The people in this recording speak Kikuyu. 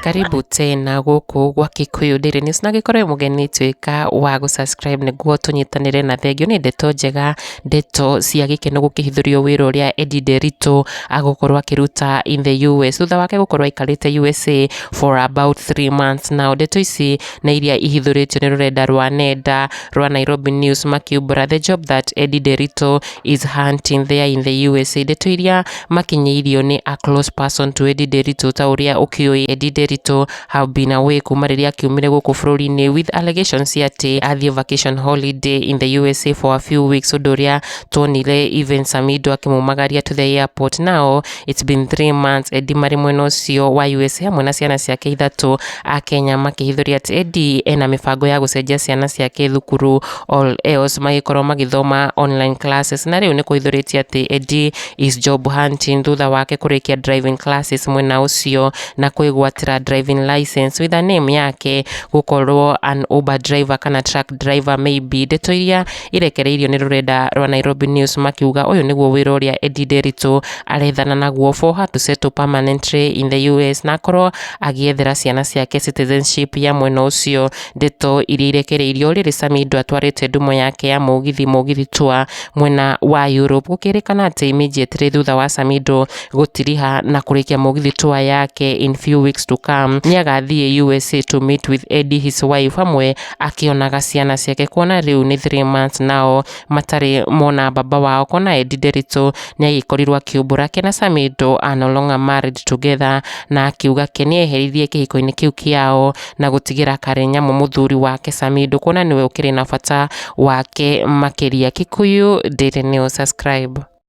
karibu tena gũkũ gwa Kikuyu Daily News na gĩkorwo mũgeni tuĩka wa gũ subscribe nĩguo tũnyitanĩre na thengio nĩ ndeto njega ndeto cia gĩkeno gũkĩhithũrio wĩra ũrĩa Eddie Nderitu agũkorwo akĩruta in the US thutha wake gũkorwo aikarĩte USA for about three months na ndeto ici nĩ iria ihithũrĩtio nĩ rũrenda rwa nenda rwa Nairobi News makiumbũra the job that Eddie Derito is hunting there in the USA. Ndeto iria makinyĩirio nĩ a close person to Eddie Derito ta ũrĩa ũkĩũĩ Eddie Derito have been away kuma rĩrĩa akiumire gũkũ bũrũri-inĩ with allegations cia atĩ athiĩ vacation holiday in the USA for a few weeks ũndũ ũrĩa tuonire even Samido akĩmumagaria to the airport now It's been three months Eddie marĩ mwena ũcio wa USA hamwe na ciana ciake ithatũ a Kenya makĩhithũria atĩ Eddie ena mĩbango ya gũcenjia ciana ciake thukuru all else magĩkorwo magĩthoma online classes na rĩu nĩ kũhithũrĩtie atĩ Eddie is job hunting thutha wake kũrĩkia driving classes mwena ũcio na kwĩgwatĩra driving license with a name yake gũkorwo an Uber driver kana truck driver maybe ndeto iria irekereirio nĩ rũrenda rwa Nairobi News makiuga ũyũ nĩguo wĩra ũrĩa Eddie Nderitu arethana naguo for her to settle permanently in the US na akorwo agĩethera ciana ciake citizenship ya mwena ũcio ndeto iria irekereirio rĩrĩ Samido atwarĩte ndumo yake ya mũgithi mũgithi tour mwena wa Europe gũkĩrĩkana atĩ immediately thutha wa Samido gũtiriha na kũrĩkia mũgithi tour yake in few weeks to come nĩ agathiĩ USA to meet with Eddie his wife hamwe akĩonaga ciana ciake kuona rĩu nĩ three months nao matarĩ mona baba wao kuona Edi Nderitu nĩ agĩkorirwo akiumbũra ke na Samido are no longer married together na akiuga ke nĩ eherithie kĩhiko-inĩ kĩu kĩao na gũtigĩra Karenyamu mũthuri wake Samido kuona nĩwe ũkĩrĩ na bata wake makĩria. Kikuyu Daily News subscribe.